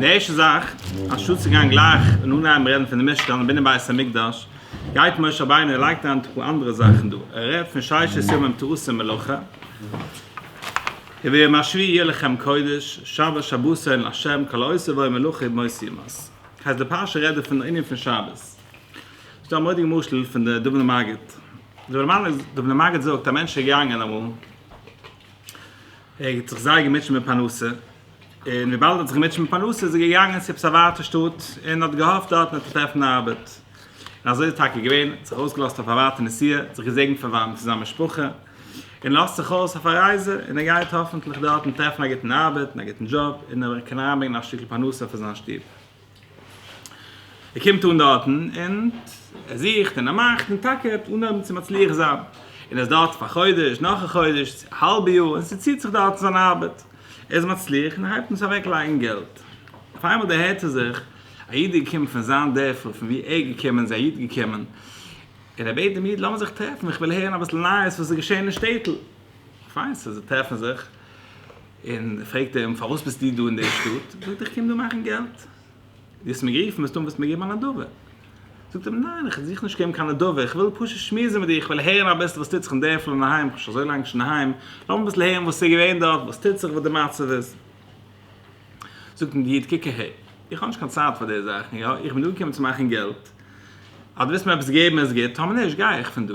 די ערשטע זאך, אנשטאט צו גיין גלייך און אנהייבן רעדן פון די משכן און בנין בית המקדש, גייט משה רבינו און לייגט אריין טאקע אנדערע זאכן דא, ער רעדט פון ששת ימים תעשה מלאכה, וביום השביעי יהיה לכם קודש, שבת שבתו אין לה', כל העושה בו מלאכה יהיה במות יומת. הייסט די פרשה רעדט דא פון די ענין פון שבת. ס'איז דא א מורא'דיגע משל פון די דובנא מגיד. דובנא מגיד זאגט, א מענטש איז געגאנגען אמאל, ער האט זיך זייער געמוטשעט מיט פרנסה, און וויבאלד ער האט זיך געמוטשעט מיט פרנסה איז ער געגאנגען צו עפעס א ווייטע שטאט און האט געהאפט דארטן עפעס טרעפן ארבעט. און אזוי איז טאקע געווען, האט זיך אויסגעלאזט אויף א ווייטע נסיעה, האט זיך געזעגנט פון וואנט צו זיין משפחה, און לאזט זיך אויס אויף א רייזע, און ער גייט האפענטליך דארטן טרעפן א גוטן ארבעט און א גוטן דזשאב, און ער קען אריינברענגען א שטיקל פרנסה פאר זיין שטוב. ער קומט אן דארטן און ער זוכט און ער מאכט און טאקע אן האבן צו מצליח זיין, און ער איז דארט פאר א חודש, נאך א חודש, א האלבע יאר, און ס'ציט זיך דארטן זיין ארבעט, ער איז מצליח און ער הייבט אן צו אוועק לייגן געלט, אויף איינמאל דערהערט ער זיך א איד איז געקומען פון זיין דערפל פון ווי ער איז געקומען איז א איד געקומען און ער בעט דעם איד לאמיר זיך טרעפן איך וויל הערן אביסל נייעס וואס איז געשען אין שטעטל, פיין סאו זיי טרעפן זיך. און פרעגט אים, פארוואס ביסטו דא אין דער שטאט? זאגט ער, איך קום דא מאכן געלט. דו האסט מיר גערופן, וועסט טון וואס מיר געבן א נדבה. זאגט אים, ניין, איך זוך נישט קיין נדבה, איך וויל פשוט שמועסן מיט דיר, איך וויל הערן אביסל וואס טוט זיך אין דערפל און אהיים, איך בין שוין אזוי לאנג נישט אין אהיים, לאמיר אביסל הערן וואס איז געווען דארט, וואס טוט זיך, וואס די מצב איז. זאגט אים דער איד, קוק אהער, איך האב נישט קיין צייט פאר די זאכן, יא, איך בין דא געקומען צו מאכן געלט, אז דו וועסט מיר עפעס געבן איז גוט, טאמער נישט, גיי איך פון דא.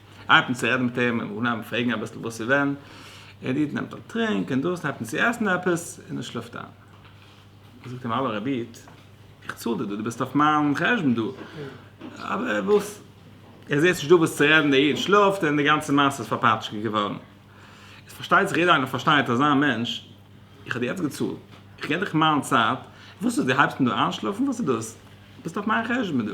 הייבט אן צו רעדן מיט אים, און אים פרעגן אביסל וואס און ווען, און די איד נעמט א טרינק און דאס, און הייבט אן צו עסן עפעס, און ער שלאפט איין. זאגט אים האלא רבי איד, איך צאל דיר דא, דו ביסט אויף מיין חשבון דא, אבער וואס? ער זעהט נישט דא וואס צו רעדן, דער איד שלאפט, און די גאנצע מעשה איז פארפאטשקעט געווארן. עס פארשטייט זיך יעדער איינער פארשטייט אזא מענטש, איך האב דיר יעצט געצאלט, איך געב דיך מיין צייט, וואס איז דו הייבסט אן דא איינשלאפן, וואס איז דאס? ביסט אויף מיין חשבון דא.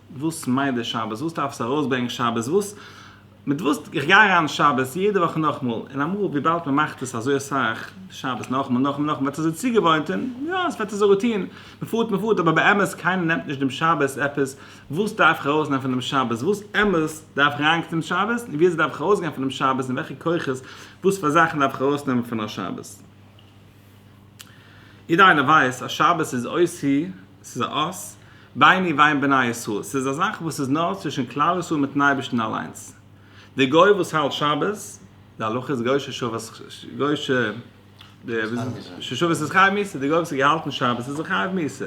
וואס מיינט דער שבת? וואס דארף עס ארויסברענגען שבת? וואס מיט וואס איך גיי אריין שבת יעדע וואך נאכמאל, און אמאל וויבאלד מען מאכט עס אזוי אסאך שבת נאכמאל נאכמאל נאכמאל וועט עס זיך צוגעוואוינט און יא עס וועט אזוי רוטין, מען פארט מען פארט אבער באמת קיינער נעמט נישט דעם שבת עפעס, וואס דארף איך ארויסנעמען פון דעם שבת? וואס אמת דארף איך אריינקוקן אין שבת? און וויאזוי דארף איך ארויסגיין פון דעם שבת? און וועלכע כוחות וואס פאר זאכן דארף איך ארויסנעמען פון א שבת? יעדער איינער ווייסט אז שבת איז אות ה', ס'איז א אות ביני ובין בני ישראל, ס'איז א זאך וואס איז נאר צווישן כלל ישראל מיטן אייבערשטן אליינס. דער גוי וואס האלט שבת, די הלכה איז גוי ששבת איז חייב מיתה, דער גוי וואס האט געהאלטן שבת איז זיך חייב מיתה.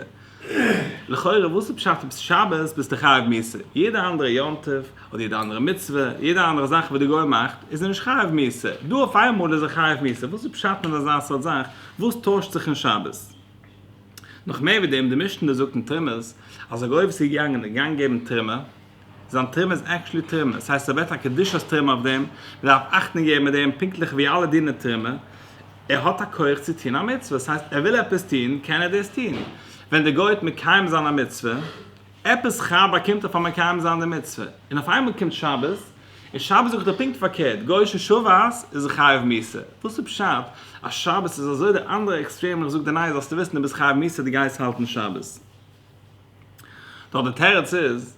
לכאורה וואס איז פשט אז שבת ביסטו חייב מוסר? יעדע אנדערע יום טוב אדער יעדע אנדערע מצוה, יעדע אנדערע זאך וואס די גוי מאכט איז ער נישט חייב מוסר, דא אויף איינמאל איז ער חייב מוסר, וואס איז פשט מיט אזא סארט זאך, וואס טוישט זיך אין שבת? נאך מער ווי דעם, די משנה זאגט אין תרמז אז א גוי וואס איז געגאנגען געגעבן תרומה, זיין תרומה איז עקטשולי תרומה, ס'הייסט ער בעט א קדושת תרומה אויף דעם, מ'דארף אכטונג געבן מיט דעם פונקטליך ווי אלע דינער תרומה, ער האט א כח צו טון א מצוה, ס'הייסט ער וויל עפעס טון קען ער דאס טון, ווען דער גוי האט מקיים זיין א מצוה, עפעס ח ו באקומט ער פאר מקיים זיין די מצוה, און אויף איינמאל קומט שבת, און שבת זאגט ער פונקט פארקערט, גוי'שע שבת איז ער חייב מיתה, וואס איז פשט אז שבת איז אזוי די אנדערע עקסטרעם איך זאג דיר ניין זאלסטו וויסן דו ביסט חייב מיתה דו גייסט האלטן שבת. נאר די תירוץ איז,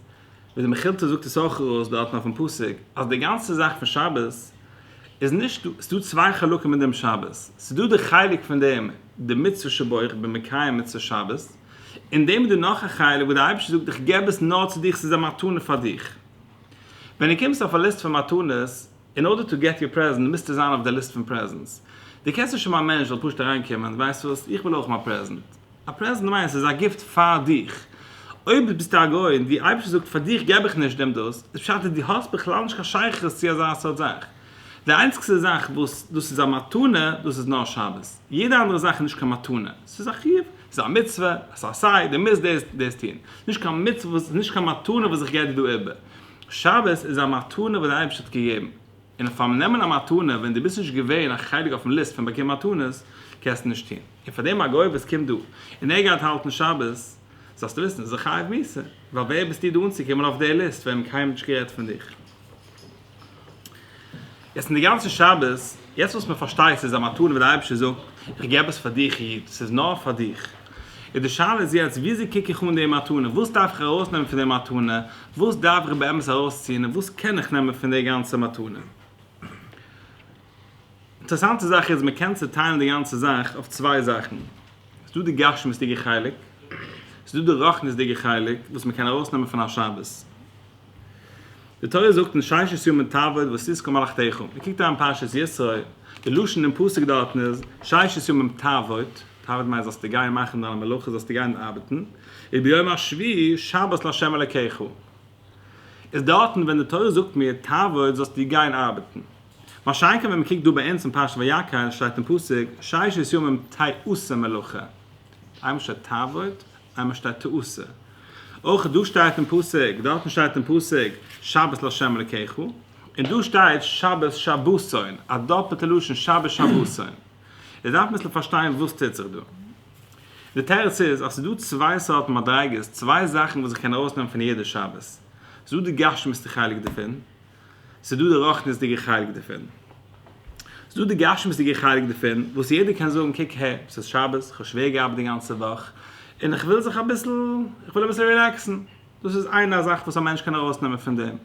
ווי די מכילתא זאגט עס אויך אויס דארטן אויפן פסוק, אז די גאנצע זאך פון שבת איז נישט דא, ס'דא צוויי חלקים אין דעם שבת, ס'דא די חלק פון דעם די מצוה שבו איך בין מקיים מצוות שבת, אין דעם איז דא נאך א חלק וואס די אייבערשטער זאגט איך געב עס נאר צו דיך ס'איז א מתנה פאר דיך. ווען דו קומסט אויף א ליסט פון מתנות, אין ארדער טו געט יור פרעזענט מוזטו זיין אויף די ליסט פון פרעזענטס. דו קענסט נישט האבן א מענטש זאל פשוט אריינקומען, ווייסט וואס, איך וויל אויך מיין פרעזענט. א פרעזענט מיינט אז עס איז א גיפט פאר דיך. אויב ביסטו א גוי און די אייבערשטער זאגט פאר דיך גיב איך נישט דעם דאס, איז פשט אז די האסט בכלל נישט קיין שייכות צו אזא סארט זאך. די איינציגסטע זאך וואס דאס איז א מתנה, דאס איז נאר שבת. יעדע אנדערע זאך איז נישט קיין מתנה. עס איז א חיוב, עס איז א מצוה, עס איז עשה, דו מוזט דאס און דאס טון. עס איז נישט קיין מצוה וואס, נישט קיין מתנה וואס איך געב דיר דא איבער. שבת איז א מתנה וואס די אייבערשטער האט געגעבן. און אויף פאר'ן נעמען א מתנה ווען דו ביסט נישט געווען א חלק אויפ'ן ליסט פון באקומען מתנות, קענסטו נישט טון. און פאר דעם אגב וואס קומט דא, און ער גייט האלטן שבת, זאלסטו וויסן, איז ער חייב מיתה, ווייל ווער ביסטו דו אנצוקומען אויף די ליסט ווען מען האט קיינמאל נישט גערעדט פון דיך. יעצט אין די גאנצע שבת, יעצט וואס מען פארשטייט ס'איז א מתנה וואס די אייבערשטער זאגט, איך גיב עפעס פאר דיך איד, ס'איז נאר פאר דיך. איז די שאלה איז יעצט, וויאזוי קוק איך אן די מתנה, וואס דארף איך ארויסנעמען פון די מתנה, וואס דארף איך באמת ארויסציען און וואס קען איך נעמען פון די גאנצע מתנה? אינטערעסאנטע זאך איז מען קען צוטיילן די גאנצע זאך אויף צוויי זאכן, עס איז דא די גשמיות'דיגע חלק, עס איז דא די רוחניות'דיגע חלק וואס מען קען ארויסנעמען פון א שבת. די תורה זאגט אין ששת ימים תעבוד ותזכור מלאכתיך, מען קוקט אריין אין פרשת ישרוי, די לשון אין פסוק דארטן איז ששת ימים תעבוד, תעבוד מיינט זאלסטו גיין מאכן דיינע מלאכות, זאלסטו גיין ארבעטן, וביום השביעי שבת לה' אלקיך איז דארטן ווען די תורה זאגט מיר תעבוד זאלסטו גיין ארבעטן. משא כ ווען מען קוקט דא ביי אונז אין פרשת ויקהל שטייט אין פסוק ששת ימים תעשה מלאכה, איינמאל שטייט תעבוד איינמאל שטייט תעשה. אויך דא שטייט אין פסוק, דארטן שטייט אין פסוק שבת לה' אלקיך, און דא שטייט שבת שבתון, א דאפעלטע לשון שבת שבתון. איז דארף מען אביסל פארשטיין וואס טוט זיך דא. די תירוץ איז אז ס'איז דא צוויי סארטן מדריגות, צוויי זאכן וואס איך קען ארויסנעמען פון יעדע שבת. ס'איז דא די גשמיות'דיגע חלק דערפון, ס'איז דא די רוחניות'דיגע חלק דערפון. ס'איז דא די גשמיות'דיגע חלק דערפון וואס יעדער קען זאגן קוק הער, ס'איז שבת, כ'האב שווער געארבעט די גאנצע וואך, און איך וויל זיך אביסל, איך וויל אביסל רילעקסן. דאס איז איינע א זאך וואס א מענטש קען ארויסנעמען פון דעם.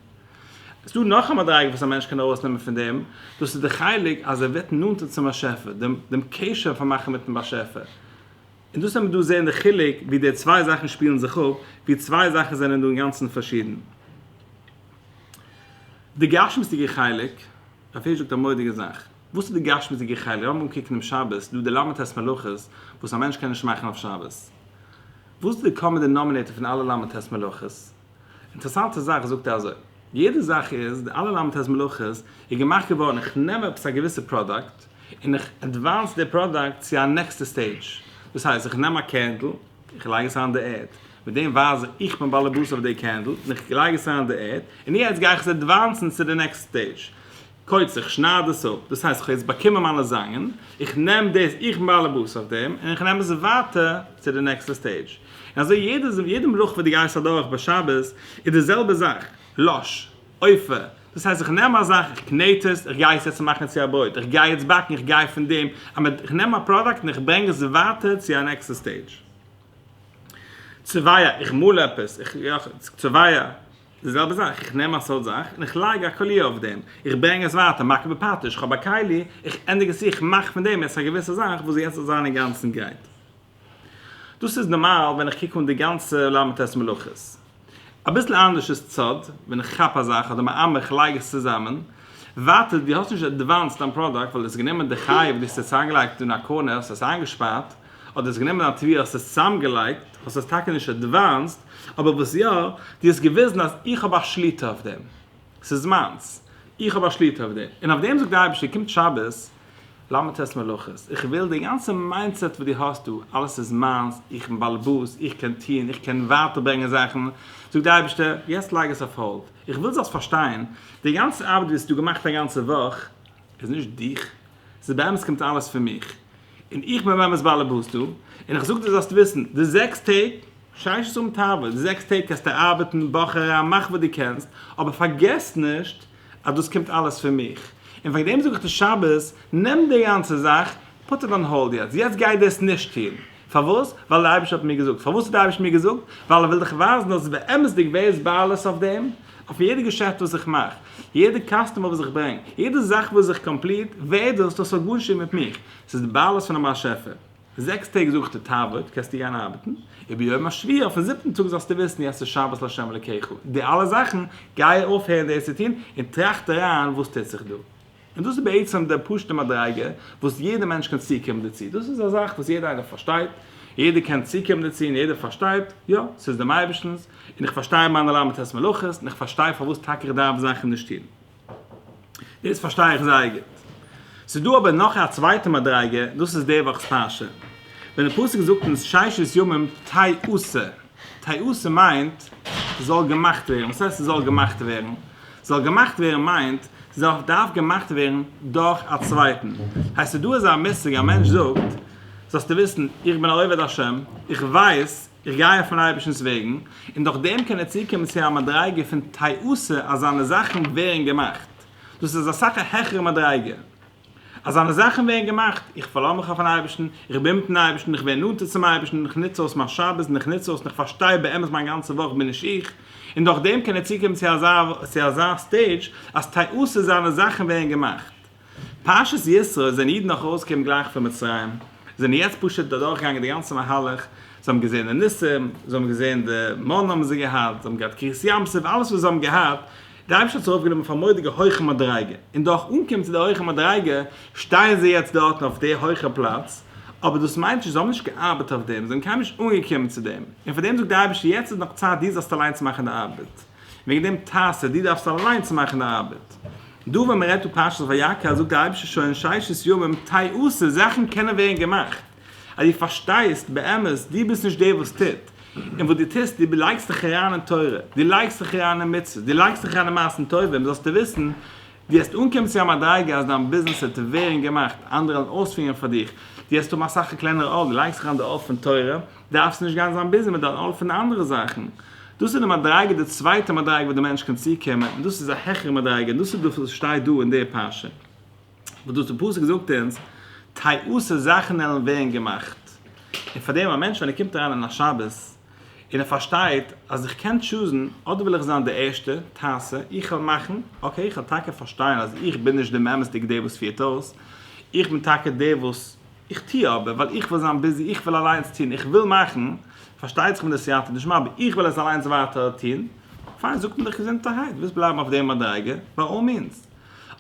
עס איז דא נאך א מדריגה וואס א מענטש קען ארויסנעמען פון דעם, דאס איז די חלק אז ער ווערט נאנטער צום באשעפער, דעם דעם קשר פון מאכן מיטן באשעפער. און דאס ווען מיר דא זען די חילוק ווי די צוויי זאכן שפילן זיך אפ, ווי צוויי זאכן זענען דא אינגאנצן פארשידן. די גשמיות'דיגע חלק, רב הירש זאגט א מורא'דיגע זאך. וואס איז די גשמיות'דיגע חלק? לאמיר אנקוקן דעם שבת, ס'איז דא די ל' ט' מלאכות וואס א מענטש קען נישט מאכן אויף שבת. וואס דערקאנט מען די נאמינעיטער פון אלע ל' ט מלאכות? אינטערעסאנטע זאך זאגט ער אזוי, יעדע זאך איז, די אלע ל' ט מלאכות איז געמאכט געווארן איך נעם עפעס א געוויסע פראדאקט און איך עדוואנס די פראדאקט צו א נעקסטע סטעידזש, דאס הייסט איך נעם א קענדל איך לייג עס אריין די ערד, מיט דעם ווייז איך איך בין בעלעבאס אויף די קענדל און איך לייג עס אריין די ערד און יעצט גיי איך עס עדוואנסן צו די נעקסטע סטעידזש. קויטס איך שנייד עס אפ דאס הייסט איך האב יעצט באקומען מיינע זאנגען איך נעם דאס איך בין באלעבאס אויף דעם און איך נעם עס ווייטער צו די נעקסטע סטעידזש און אזוי יעדע יעדע מלאכה וואס דו גייסט אדורך ביי שבת איז די זעלבע זאך לש עופה דאס הייסט איך נעם א זאך איך קנעט עס איך גיי עס יעצט מאכן צו א ברויט איך גיי יעצט באקן איך גיי פון דעם איך נעם א פראדאקט און איך ברענג עס ווייטער צו א נעקסטע סטעידזש צוואה איך מאל עפעס איך צוואה. די זעלבע זאך, איך נעם א סאוט זאך און איך לייג א קאליע אויף דעם, איך ברענג עס ווייטער, מכה בפטיש, איך האב א כלי, איך ענדיג עס צו, איך מאך פון דעם יעצט א געוויסע זאך וואס יעצט זאל זיין אינגאנצן גרייט. דאס איז נארמאל ווען איך קוק אן די גאנצע ל' ט' מלאכות. אביסל אנדערש איז צד, ווען איך כאפ א זאך אדער מאמר איך לייג עס צוזאמען, ווייטער דו האסט נישט עדוואנסד דיין פראדאקט ווייל דו האסט גענומען די חי וואס דו האסט עס אריינגעלייגט און א קארנער, האסט עס איינגעשפארט, אדער האסט גענומען א תביעה האסט עס צוזאמגעלייגט, האסט עס טאקע נישט עדוואנסד, אבער וואס יא, דו האסט געוויזן אז איך האב א שליטה אויף דעם, ס'איז מיינס, איך האב א שליטה אויף דעם, און אויף דעם זאגט דער אייבערשטער, קומט שבת, למד ט' מלאכות, איך וויל די גאנצע מיינדסעט וואס דו האסט דא, אלעס איז מיינס, איך בין באלעבאס, איך קען טון, איך קען ווייטער ברענגען זאכן, זאגט דער אייבערשטער, יעצט לייג עס אויף האלד, איך וויל זאלסט פארשטיין, די גאנצע ארבעט וואס דו געמאכט א גאנצע וואך, איז נישט דיך, ס'איז באמת קומט אלעס פון מיך, און איך בין באמת באלעבאס דא, און איך זאג דיר זאלסט וויסן, די זעקס טעג, שיישט האבן תאווה, די זעקס טעג קענסטו ארבעטן, באך אריין, מאך וואס דו קענסט, אבער פארגעס נישט אז דאס קומט אלעס פון מיך, און וועגן דעם זאג איך דיר שבת, נעם די גאנצע זאך, פוט איט אן האלד יעצט, יעצט גיי דאס נישט טון, פארוואס? ווייל דער אייבערשטער האט מיר געזאגט. פארוואס האט דער אייבערשטער מיר געזאגט? ווייל ער וויל דיך ווייזן אז באמת'דיג ווער איז בעלות אויף דעם? אויף יעדע געשעפט וואס איך מאך, יעדע קאסטומער וואס איך ברענג, יעדע זאך וואס איך קאמפליט, ווער דאס? דאס האט גארנישט צו טון מיט מיך, עס איז די בעלות פון דעם באשעפער. זעקס טעג זאג איך דיר תעבוד, קענסטו גיין ארבעטן, וביום השביעי, אויפן זיבטן טאג, זאלסטו וויסן יעצט איז שבת לה' אלוקיך, די אלע זאכן, גיי אויפהערן דאס צו טון, און טראכט אריין וואס טוט זיך דא. און דאס איז בעצם די פשוט'ע מדריגה וואס יעדער מענטש קען צוקומען דערצו, דאס איז א זאך וואס יעדער איינער פארשטייט, יעדער קען צוקומען דערצו און יעדער פארשטייט, יא, ס'איז דעם אייבערשטנ'ס, און איך פארשטיי מיינע ל' מיתות מלאכות, און איך פארשטיי פארוואס טאקע איך דארף זאכן נישט טון. דאס פארשטיי איך זייער גוט. ס'איז דא אבער נאך א צווייטע מדריגה, דאס איז די וואכ'ס פרשה, ווען די פסוק זאגט אונז ששת ימים תהי' עשה, טעותים מיינט ס'זאל געמאכט ווערן, וואס הייסט ס'זאל געמאכט ווערן? ס'זאל געמאכט ווערן מיינט ס'דארף געמאכט ווערן דורך א צווייטן. הייסט איז דא אזא מושג א מענטש זאגט, זאלסטו וויסן, איך בין א עובד השם, איך ווייס, איך גיי אויף מיין אייבערשטנ'ס וועגן, און דורך דעם קען ער צוקומען צו א מדריגה פון טעותים אז זיינע זאכן ווערן געמאכט. דאס איז אסאך א העכערע מדריגה. אזאנע זאכן ווערן געמאכט, איך פארלאז מיך אויפן אייבערשטן, איך בין מיטן אייבערשטן, איך ווער נאנטער צום אייבערשטן, איך נוץ אויס מיין שבת און איך נוץ אויס און איך פארשטיי באמת מיין גאנצע וואך בין נישט איך, און דורך דעם קען ער צוקומען צו אזא סטעידזש אז טעותים זיינע זאכן ווערן געמאכט. פרשת יתרו זענען אידן נאך ארויסגעקומען גלייך פון מצרים, זיי זענען יעצט פשוט אדורכגעגאנגען די גאנצע מהלך, זיי האבן געזען די ניסים, זיי האבן געזען די מנה'ן האבן זיי געהאט, זיי האבן געהאט קרית ים סוף, אלעס וואס זיי האבן געהאט, די אייבערשטער האט זיך אויפגענומען אויף א מורא'דיגע הויכע מדריגה, און דורך אנקומען צו די הויכע מדריגה, שטייען זיי יעצט דארטן אויף די הויכע פלאץ, אבער דאס מיינט נישט, זיי האבן נישט געארבעט אויף דעם, זיי זענען קיינמאל נישט אנגעקומען צו דעם, און פאר דעם זאגט די אייבערשטער יעצט איז נאך צייט דו זאלסט אליינס מאכן די ארבעט, וועגן דעם תעשה, דו דארפסט אליינס מאכן די ארבעט. דא ווען מען רעדט פון פרשת ויקהל זאגט די אייבערשטער שוין אין ששת ימים תעשה, זאכן קענען ווערן געמאכט. אז דו פארשטייסט באמת דו ביסט נישט דער וואס טוט, און וואס דו טוסט, דו לייגסט דיך אריין אין תורה, דו לייגסט דיך אריין אין מצוות, דו לייגסט דיך אריין אין מעשים טובים, זאלסטו וויסן, דו וועסט אנקומען צו א מדריגה אז דיין ביזנעס וועט ווערן געמאכט, אנדערע וועלן אויספירן פאר דיך, דו וועסט האבן אסאך א קלענערע עול, דו לייגסט אריין די עול פון תורה, דארפסטו נישט גיין זיין ביזי מיט דיין עול פון די אנדערע זאכן. דאס איז די מדריגה, די צווייטע מדריגה וואס דער מענטש קען צוקומען, און דאס איז א העכערע מדריגה, און דאס איז דאס וואס שטייט דא אין די פרשה. וואס דאס די פסוק זאגט אונז, טייאות'ע זאכן עלען ווערן געמאכט, און פאר דעם א מענטש ווען ער קומט אריין אין א שבת, און ער פארשטייט אז איך קען טשוזן, אדער וויל איך זיין די ערשטע, תעשה, איך וועל מאכן, אקעי איך וועל טאקע פארשטיין אז איך בין נישט די אמת'דיגע דער וואס פירט אויס, איך בין טאקע דער וואס, איך טו אבער ווייל איך וויל זיין ביזי, איך וויל אליינס טון, איך וויל מאכן, פארשטייט זיך מיט די סייעתא דשמיא, אבער איך וויל עס אליינס ווייטער טון, פיין זאגט מען דיך געזונטערהייט, ווילסט בלייבן אויף דער מדריגה, ביי אל מינס.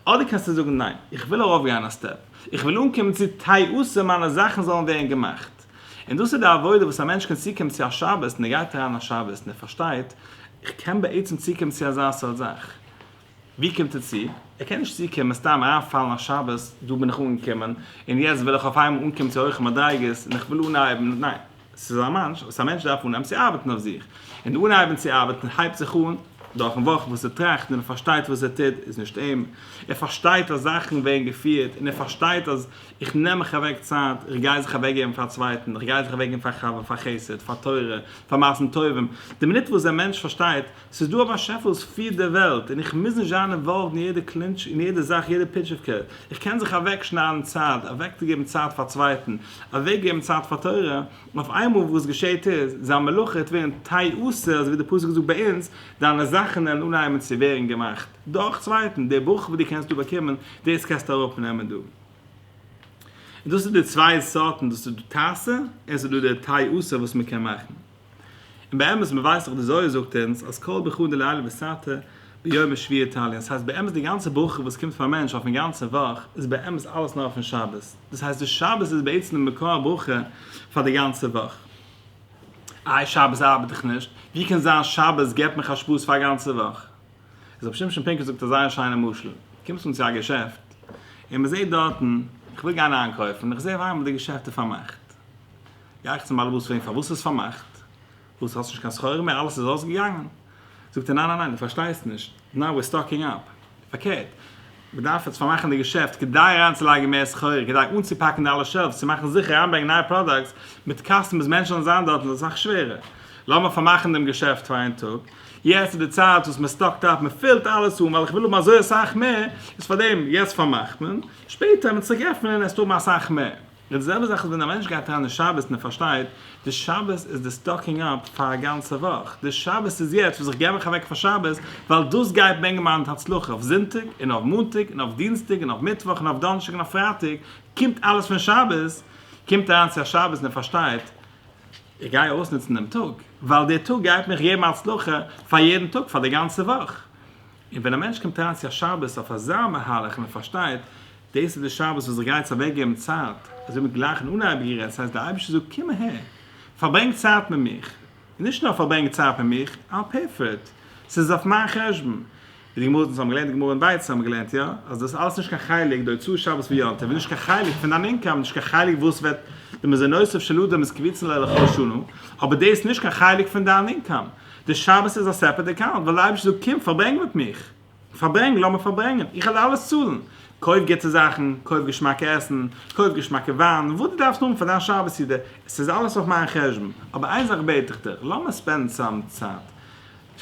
אדער קענסטו זאגן ניין, איך וויל ארויפגיין א סטעפ, איך וויל אנקומען צו תעוזה מיינע זאכן זאלן ווערן געמאכט. און דאס איז די עבודה וואס א מענטש קען צוקומען צו א שבת און ער גייט אריין א שבת און ער פארשטייט, איך קען בעצם צוקומען צו אזא סארט זאך. ווי קומט ער צו? ער קען נישט צוקומען סתם אריינפאלן א שבת, דא בין איך אנגעקומען און יעצט וויל איך אויפאיינמאל אנקומען צו הויכע מדריגות און איך וויל אנהייבן, ניין. ס'איז א מאנטש וואס א מענטש דארף אנהייבן צו ארבעטן אויף זיך. און די אנהייבן צו ארבעטן הייבט זיך אן דורכן וואך וואס ער טראכט און ער פארשטייט וואס ער טוט איז נישט אים. ער פארשטייט אז זאכן ווערן געפירט און ער פארשטייט אז איך נעם מיך אוועק צייט, איך גיי זיך אוועקגעבן פאר א צווייטן, איך גיי זיך אוועקגעבן פאר חבר, פאר חסד, פאר תורה, פאר מעשים טובים. די מינוט וואס דער מענטש פארשטייט ס'איז דא א באשעפער וואס פירט דער וועלט, און איך מוז נישט זיין אינוואלווד אין יעדע קלינטש, אין יעדע זאך, יעדע פיטשיווקע. איך קען זיך אוועקשניידן צייט, אוועקצוגעבן צייט פאר צווייטן, אוועקגעבן צייט פאר תורה, און אויף איינמאל וואס געשעהט איז, זיין מלאכה וועט ווערן תהי' עשה, אזוי ווי דער פסוק זאגט ביי אונז, דיינע זאכן וועלן אנהייבן צו ווערן געמאכט, דורך צווייטן, די ברכה וואס דו קענסט דא באקומען, דאס קענסטו אראפנעמען דא. און דאס איז די צוויי סארטן, דאס איז דא תעשה, און עס איז דא די תהי' עשה וואס מען קען מאכן. און באמת מען ווייסט דאך די זוהר זאגט אונז אז כל ברכו דלעילא וסעתא ביום השביעי תלין דאס הייסט באמת די גאנצע ברכה וואס קומט פאר מענטש אויפן גאנצן וואך איז באמת אלעס נאר פון שבת דאס הייסט די שבת איז בעצם די מקור הברכה פאר די גאנצע וואך איי שבת ארבעט איך נישט ווי קען זיין שבת געבט מיך א שבת פאר א גאנצע וואך איז רבי שמשון פינקל זאגט א זייער שיינע משל קומסט אן צו א געשעפט און מען זעט דארטן איך וויל גיין איינקויפן איך זע אויף איינמאל די געשעפט איז פארמאכט. גיי איך צום באלעבאס פרעגן פארוואס ס'איז פארמאכט, וואס האסט נישט קיין סחורה מער, אלעס איז אויסגעגאנגען? זאגט ער ניין ניין ניין דו פארשטייסט נישט, נאו וויר סטאקינג אפ, פארקערט מ'דארף יעצט פארמאכן די געשעפט כדי אריינצולייגן מער סחורה, כדי אנצופאקן די אלע שעלווס, צו מאכן זיכער אריינברענגען נייע פראדאקטס מיט קאסטומערס, מענטשן זאלן זיין דארט, און ס'איז אסאך שווערער, לאמיר פארמאכן דעם געשעפט פאר איין טאג, יעצט איז די צייט וואס מ'סטאקט אפ, מ'פילט אלעס אן, ווייל איך וויל האבן אזוי אסאך מער, איז פארדעם יעצט פארמאכט מען, שפעטער ווען מ'וועט צוריק עפענען עסטו האבן אסאך מער. די זעלבע זאך איז ווען א מענטש גייט אריין אין שבת און ער פארשטייט, די שבת איז די סטאקינג אפ פאר א גאנצע וואך, די שבת איז יעצט וואס איך גיב מיך אוועק פאר שבת, ווייל דאס גייט ברענגען מיין הצלחה אויף זונטאג און אויף מאנטאג און אויף דינסטאג און אויף מיטוואך און אויף דאנערשטאג און אויף פרייטאג קומט אלעס פון שבת, קומט אריין צו א שבת און ער פארשטייט, איך גיי אויסנוצן דעם טאג, ווייל דער טאג גייט מיך געבן הצלחה פאר יעדן טאג פאר די גאנצע וואך, און ווען א מענטש קומט אריין צו א שבת אויף אזא מהלך און ער פארשטייט דאס איז די שבת וואס איך גיי יעצט אוועקגעבן צייט, אזוי ווי גלייך אין אנהייב גערעדט, ס'הייסט דער אייבערשטער זאגט קום אהער, פארברענג צייט מיט מיך, און נישט נאר פארברענג צייט מיט מיך, I'll pay for it, ס'איז אויף מיין חשבון, ווי די גמרא זאגט, אונז האבן געלערנט די גמרא אין ביצה האבן מיר געלערנט יא, אז דאס אלעס איז נישט קיין חלק, די הוצאות שבת ויום טוב איז נישט קיין חלק פון דיין אינקאם, נישט קיין חלק וואס וועט, די מזונותיו של אדם איז קביצין לאלכו שנה, אבער דאס איז נישט קיין חלק פון דיין אינקאם. די שבת איז א סעפערעט אקאונט, ווען די אייבערשטער זאגט קום פארברענג מיט מיך, פארברענג, לאמיר פארברענגען, איך וועל אלעס צאלן, קויף גוטע זאכן, קויף געשמאקע עסן, קויף געשמאקע וויין, וואס דו דארפסט האבן פאר דיין שבת סעודה, עס איז אלעס אויף מיין חשבון, אבער איין זאך בעט איך דיך, לאמיר ספענדן צוזאם צייט,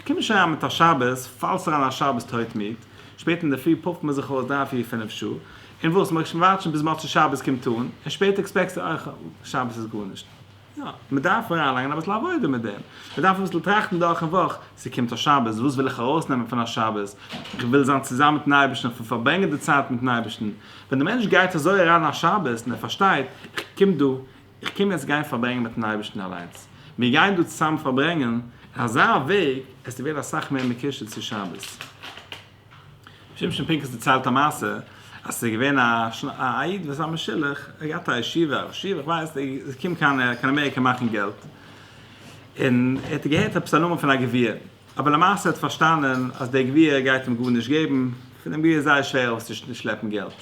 קום נישט אריין מיט א שבת, פאלסט אריין א שבת טויט מיד, שפעט אינדערפרי פאפט מען זיך אויס דריי פיר פינף שעה, און וואס, מ'וועט וואטשן ביז מוצאי שבת קומט אן, און שפעט עקספעקסטו אויך, שבת איז גארנישט. יא, מען דארף אריינלייגן אביסל עבודה מיט דעם, מען דארף אביסל טראכטן דורכ'ן וואך, ס'קומט א שבת, וואס וויל איך ארויסנעמען פון א שבת? איך וויל זיין צוזאם מיט'ן אייבערשטן, איך וויל פארברענגען די צייט מיט'ן אייבערשטן. ווען דער מענטש גייט אזוי אריין אין א שבת און ער פארשטייט, איך קום דא, איך קום יעצט גיין פארברענגען מיט'ן אייבערשטן אליינס, מיר גייען דא צוזאם פארברענגען, אין אזא וועג, עסטו ווערן אסאך מער מקושר צו שבת. שמשון פינקוס דערציילט א מעשה אז ס'איז געווען א איד וואס זיין משולח האט געהאט א ישיבה א ראש ישיבה כ'ווייס נישט איז געקומען קיין אמעריקע מאכן געלט און ער האט געהערט עפעס א נאמען פון א גביר אבער למעשה האט פארשטאנען אז דער גביר גייט אים גארנישט געבן פון דעם גביר איז זייער שווער ארויסצושלעפן געלט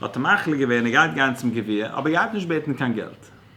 האט ער מחליט געווען ער גייט גיין צום גביר אבער ער גייט נישט בעטן קיין געלט.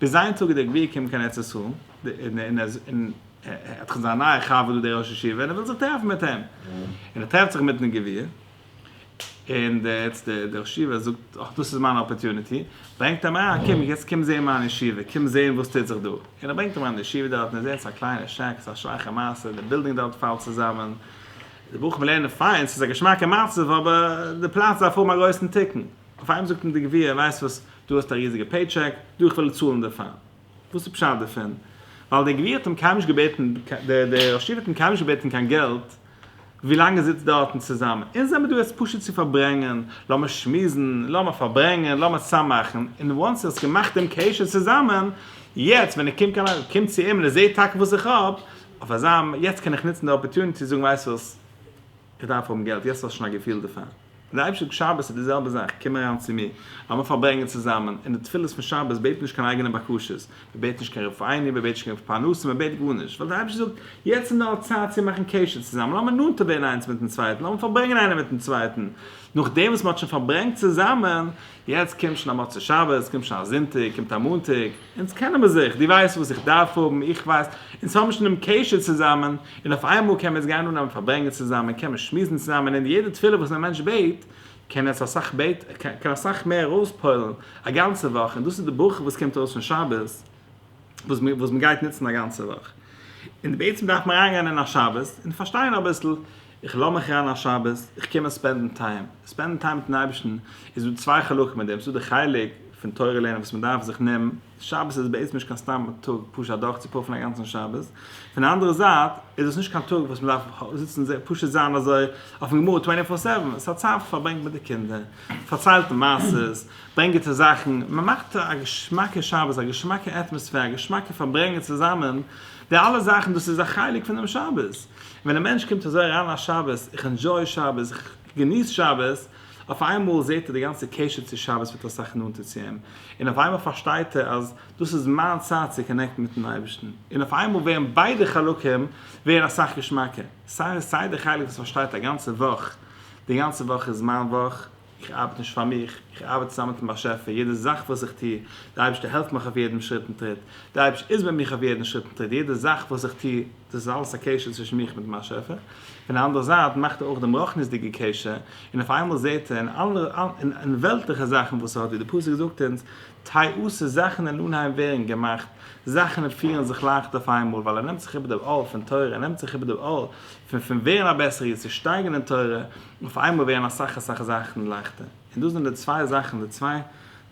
ביז איין טאג איז דער גביר געקומען קיין ארץ ישראל, און ער האט זיך זיין נייע חבר דא דער ראש ישיבה, און ער וויל זיך טרעפן מיט אים, און ער טרעפט זיך מיטן גביר, און דער ראש ישיבה זאגט, אך דאס איז מיין אפערטוניטי, ברענגט אים אריין, קום יעצט קום זען מיין ישיבה, קום זען וואס טוט זיך דא, און ער ברענגט אים אריין אין די ישיבה דארט, און ער זעט עס איז א קליינע שעק, עס איז א שוואכע מעשה, די בילדינג דארט פאלט צוזאמען, די בחורים לערנען פיין, עס איז א געשמאקע מצב, אבער די פלאץ דארף האבן א גרויסן תיקון. אויף איינעם זאגט אים די גביר ווייסט וואס דו האסט א ריזיגע פעי טשעק דא איך וועל צאלן דערפאר וואס איז פשט דערפון ווייל דער גביר האט אים קיינמאל נישט געבעטן דער דער ראש ישיבה האט אים קיינמאל נישט געבעטן קיין געלט ווילאנג ער זיצט דארט און צוזאמען אונז זעמער דא עס פשוט צו פארברענגען לאמיר שמועסן לאמיר פארברענגען לאמיר צוזאם מאכן און וואנס ער האסט געמאכט דעם קשר צוזאמען יעצט ווען ער קומט קיין א קומט צו אים און ער זעט טאקע וואס איך האב אויף אזא יעצט קען איך נוצן די אפערטוניטי זאגן ווייסט וואס איך דארף האבן געלט יעצט האסט שוין א געפיל דערפאר. זעלבסט אויף שבת איז די זעלבע זאך, קום אריין צו מיר, לאמיר פארברענגען צוזאמען, און די תפילות פון שבת בעט נישט קיין אייגענע בקשות, מען בעט נישט קיין רפאינו, מען בעט נישט קיין פרנסה, מען בעט גארנישט, ווייל דער אייבערשטער זאגט, יעצט איז נאר צייט צו מאכן קשר צוזאמען, לאמיר נאנטער ווערן איינס מיט'ן צווייטן, לאמיר פארברענגען איינער מיט'ן צווייטן, נאכדעם וואס מען האט שוין פארברענגט צוזאמען, יעצט קומט שוין א מוצאי שבת, קומט שוין א זונטאג, קומט א מאנטאג, אונז קענען מיר זיך, די ווייסט וואס איך דארף האבן, איך ווייס, אונז האבן שוין דעם קשר צוזאמען, און אויף איינמאל קען מען יעצט גיין אננעמען פארברענגען צוזאמען, קען מען שמועסן צוזאמען, און יעדע תפילה וואס א מענטש בעט, קען יעצט אסאך בעט, קען אסאך מער אויספועל'ן א גאנצע וואך, און דאס איז די ברכה וואס קומט ארויס פון שבת. וואס מיר וואס מען גייט נוצן א גאנצע וואך און בעצם דארף מען אריינגיין אין א שבת און פארשטיין אביסל איך לאז מיך אריין א שבת איך קום עס ספענדן טיים ספענדן טיים מיטן אייבערשטן איז דא צוויי חלקים אין דעם ס'איז דא די חלק פון תורה לערנען וואס מען דארף זיך נעמען שבת איז בעצם נישט קיין סתם טאג פשוט אדורך צו פאפען א גאנצן שבת פון די אנדערע זייט איז דאס נישט קיין טאג וואס מען דארף זיצן זיך פשוט זיין אזוי אויפן גמרא טווענטי פאר סעווען ס'איז א צייט וואס מען פארברענגט מיט די קינדער פארציילט מען מעשה'ס. ברענג גוטע זאכן, מען מאכט א געשמאקע שבת, א געשמאקע עטמאספער, א געשמאקע פארברענגען צוזאמען, די אלע זאכן דאס איז א חלק פון דעם שבת. און ווען א מענטש קומט אזוי אריין א שבת, איך ענדזשוי שבת, איך געניס שבת, אויף איינמאל זעט ער די גאנצע קשר צו שבת ווערט אסאך נאנטער צו אים, און אויף איינמאל פארשטייט ער אז דאס איז מיין צייט צו קאנעקטן מיטן אייבערשטן, און אויף איינמאל ווערן ביידע חלקים ווערן אסאך געשמאקער, סיי די חלק וואס פארשטייט א גאנצע וואך, די גאנצע וואך איז מיין וואך, איך ארבעט נישט פאר מיך, איך ארבעט צוזאמען מיט'ן באשעפער, יעדע זאך וואס איך טו, דער אייבערשטער העלפט מיך אויף יעדן שריט און טריט, דער אייבערשטער איז מיט מיך אויף יעדן שריט און טריט, יעדע זאך וואס איך טו, דאס איז אלעס א קשר צווישן מיך מיט'ן באשעפער, פון די אנדערע זייט מאכט ער אויך דעם רוחניות'דיגע קשר, און אויף איינמאל זעט ער אין אלע אין וועלטליכע זאכן וואס ער האט, ווי דער פסוק זאגט אונז, טייאסע זאכן אין אנהייב ווערן געמאכט, זאכן פירן זיך לייכט אויף איינמאל, ווייל ער נעמט זיך איבער דער עול פון תורה, ער נעמט זיך איבער דער עול פון פון ווערן א בעסערער איד, צו שטייגן אין תורה, אויף איינמאל ווערן אסאך אסאך זאכן לייכטער, און דאס זענען די צוויי זאכן, די צוויי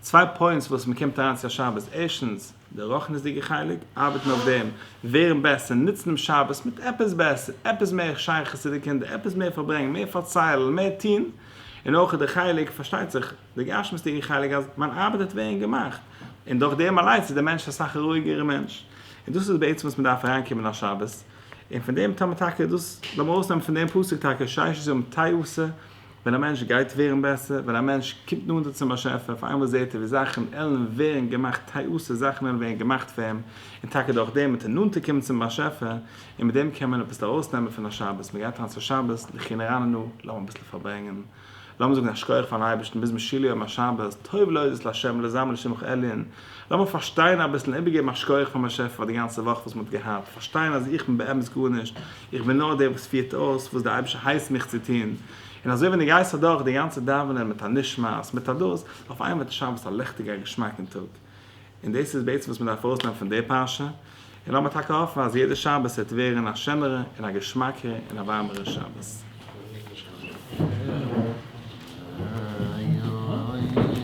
צוויי פוינטס וואס מען קומט אריין צו א שבת, ערשטנס, די רוחניות'דיגע חלק, ארבעטן אויף דעם, ווערן בעסער, נוצן דעם שבת מיט עפעס בעסער, עפעס מער שייכות צו די קינדער, עפעס מער פארברענגען, מער פארציילן, מער טון, און אויך די חלק, פארשטייט זיך, די גשמיות'דיגע חלק אז מיין ארבעט האט ווערן געמאכט, און דורך דעם אליינס איז דער מענטש אסאך א רואיגערע מענטש, און דאס איז בעצם וואס מען דארף אריינקומען א שבת, און פון דעם טאר מען טאקע דאס, לאמיר ארויסנעמען פון דעם פסוק טאקע ששת ימים תעשה, ווען א מענטש גייט ווערן בעסער, ווען א מענטש קומט נאנטער צום באשעפער, אויף איינמאל זעט ער ווי זאכן עלן ווערן געמאכט תעשה, זאכן עלן ווערן געמאכט פאר אים, און טאקע דורך דעם וועט ער נאנטער קומען צום באשעפער, און מיט דעם קען מען אביסל ארויסנעמען פון א שבת, מען גייט אריין צו שבת, די כינור אננו, לאמיר אביסל פארברענגען. לאמיר זאגן א שקויעך פארן אייבערשטן ביז משיל יום השבת, טוב להודות לה' ולזמר לשמך עליון, לאמיר פארשטיין אביסל און איבערגעבן א שקויעך פארן באשעפער פאר די גאנצע וואך וואס מען האט געהאט, פארשטיין אז איך בין באמת גארנישט, איך בין נאר דער וואס פירט אויס וואס דער אייבערשטער הייסט מיך צו טון, און אזוי ווען דו גייסט אדורך די גאנצע דאווענען מיט א נשמת, מיט א דאס, אויף איינמאל וועט עס שיין וואס א לעכטיגער געשמאקן טאג. און דאס איז בעצם וואס מען דארף ארויסנעמען פון די פרשה, און לאמיר טאקע האפן אז יעדע שבת וועט ווערן א שענערע און א געשמאקע און א ווארעמערע שבת.